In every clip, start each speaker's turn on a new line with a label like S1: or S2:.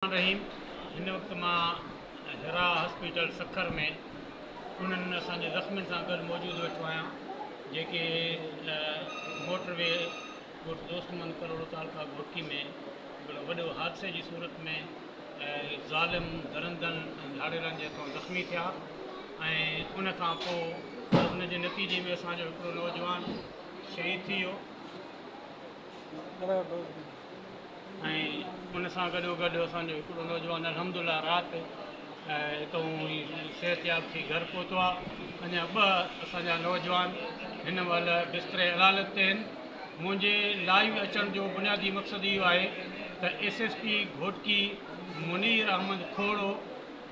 S1: رحيم هن وقت مان هيرا هاسپيٽل سکر ۾ انهن اسان جي زخمين سان گڏ موجود ويٺو آهيان جيڪي موٽر وي ڳوٺ دوست محمد ڪروڙو تعلقه گهوٽڪي ۾ هڪڙو وڏو حادثي جي صورت ۾ ظالم درندن ۽ ڌاڙيلن جي هٿون زخمي ٿيا ۽ ان کان پوء ان جي نتيجي ۾ اسان جو هڪڙو نوجوان شهيد ٿي ويو ۽ ان سان گڏو گڏ اسان جو هڪڙو نوجوان الحمد الله رات هتئون ئي صحت ياب ٿي گهر پهتو آ اڃا ٻه اسان جا نوجوان هن مهل بستري علالت تي آهن منهنجي لائيو اچڻ جو بنيادي مقصد اهو آهي ته S S P Ghotki Munir Ahmed Khoro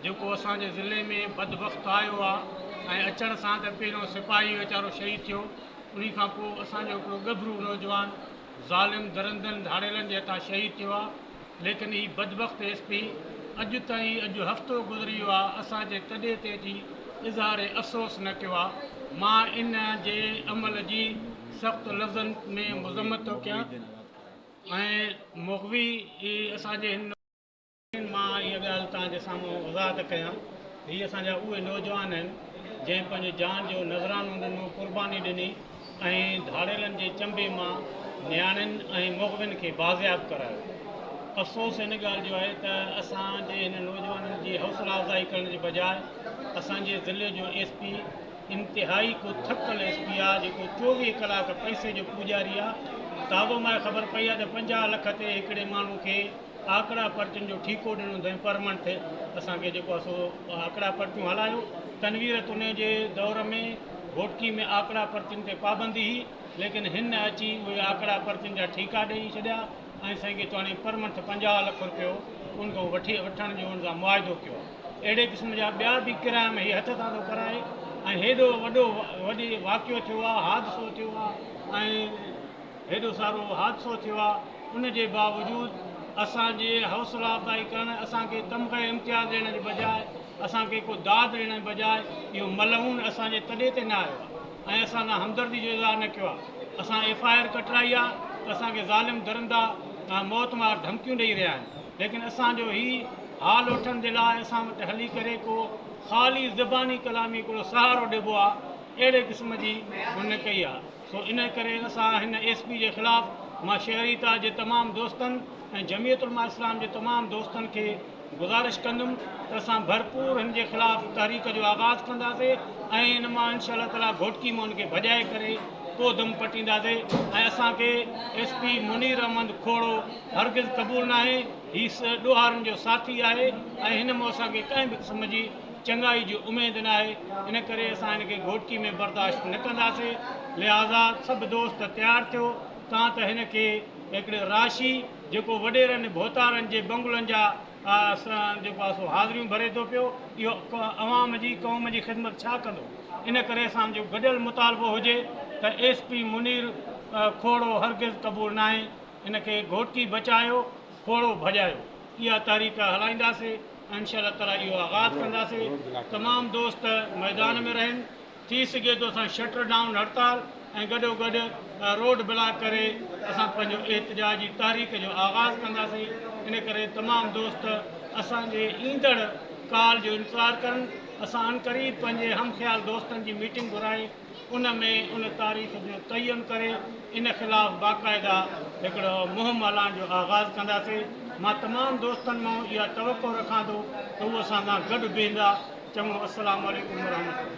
S1: جيڪو اسان جي ضلعي ۾ بدبخت آيو آ ۽ اچڻ سان ته پهريون سپاهي ويچارو شهيد ٿيو انهي کان پوء اسان جو هڪڙو ڳڀرو نوجوان ظالم درندن ڌاڙيلن جي هٿان شهيد ٿيو آهي ليڪن هي بدبخت ايس پي اڄ تائين اڄ هفتو گذري ويو آهي اسان جي تڏي تي اچي اظهار افسوس نه ڪيو آهي مان ان جي عمل جي سخت لفظن ۾ مذمت ٿو ڪيان ۽ مغوي اسان جي هن مان اها ڳالهه توهان جي سامهون وضاحت ڪيان. هي اسان جا اهي نوجوان آهن، جنهن پنهنجي جان جو نذرانو ڏنو، قرباني ڏني ۽ ڌاڙيلن جي چنبي مان نياڻين ۽ مغوين کي بازياب ڪرايو. افسوس ان ڳالهه جو آهي ته اسان جي هن نوجوانن جي حوصلا افزائي ڪرڻ جي بجاء اسان جي ضلعي جو ايس پي انتهائي ڪو ٿڪل ايس پي آهي، جيڪو چوويهه ڪلاڪ پئسي جو پوڄاري آهي. تابوماء خبر پئي آهي ته پنجاهه لک تي هڪڙي ماڻهو کي آڪڙا پرچين جو ٺيڪو ڏنو ٿئين پر منٿ اسان کي جيڪو آهي سو آڪڙا پرچون هلايون تنوير تني جي دور ۾ گهوٽڪي ۾ آڪڙا پرچين تي پابندي هئي ليڪن هن اچي اهي آڪڙا پرچين جا ٺيڪا ڏئي ڇڏيا ۽ سائين کي چواڻي پر منٿ پنجاهه لک روپيو ان کان وٺي وٺڻ جو ان سان معاهدو ڪيو اهڙي قسم جا ٻيا به ڪرائم هي هٿ سان ٿو ڪرائي ۽ هيڏو وڏو وڏي واقعو ٿيو آهي حادثو ٿيو آهي ۽ هيڏو سارو حادثو ٿيو آ ان جي باوجود اسان جي حوصلا افزائي ڪرڻ اسان کي تمغه امتياز ڏيڻ جي بجاء اسان کي ڪو داد ڏيڻ جي بجاء اهو ملعون اسان جي تڏي تي نه آيو آ ۽ اسان سان همدردي جو اظهار نه ڪيو آ اسان ايف آء آر ڪٽرائي آ ته اسان کي ظالم درندا ۽ موت مار ڌمڪيون ڏئي رهيا آهن ليڪن اسان جو هي حال وٺڻ جي لاء اسان وٽ هلي ڪري ڪو خالي زباني ڪلامي هڪڙو سهارو ڏبو آ اهڙي قسم جي هن ڪئي آ. سو ان ڪري اسان هن ايس پي جي خلاف مان شهريتا جي تمام دوستن ۽ جمعيت علماء اسلام جي تمام دوستن کي گذارش ڪندم ته اسان ڀرپور هن جي خلاف تحريڪ جو آغاز ڪنداسي ۽ ان مان انشاء الله تعالي گهوٽڪي مون کي ڀڄائي ڪري پوء دم پٽينداسي ۽ اسان کي ايس پي منير احمد کوڙو هرگز قبول ناهي هي ڏوهارن جو ساٿي آهي ۽ هن مون اسان کي ڪنهن به قسم جي چڱائي جي اميد ناهي ان ڪري اسان هن کي گهوٽڪي ۾ برداشت نه ڪنداسين لهٰذا سڀ دوست تيار ٿيو تان ته هن کي هڪڙي راشي جيڪو وڏيرن ڀوتارن جي بنگلن جا سان جيڪو آهي سو حاضريون ڀري ٿو پيو اهو عوام جي قوم جي خدمت ڇا ڪندو ان ڪري اسان جو گڏيل مطالبو هجي ته ايس پي منير کوڙو هرگز قبول ناهي ان کي گهوٽڪي بچايو کوڙو ڀڄايو اها تحريڪ هلائينداسين. انشاء الله تعالٰي اهو آغاز ڪنداسين تمام دوست ميدان ۾ رهن ٿي سگهي ٿو اسان شٽر ڊائون هڙتال ۽ گڏو گڏ روڊ بلاڪ ڪري اسان پنهنجو احتجاج جي تحريڪ جو آغاز ڪنداسين ان ڪري تمام دوست اسان جي ايندڙ ڪال جو انتظار ڪرن اسان ان قريب پنهنجي هم خيال دوستن جي ميٽنگ گهرائي ان ۾ ان تاريخ جو تعين ڪري ان خلاف باقاعده هڪڙو مهم هلائڻ جو آغاز ڪنداسين. مان تمام دوستن مان اها توقع رکان ٿو ته هو اسان سان گڏ بيهندا. چڱو السلام عليڪم ورحمة الله.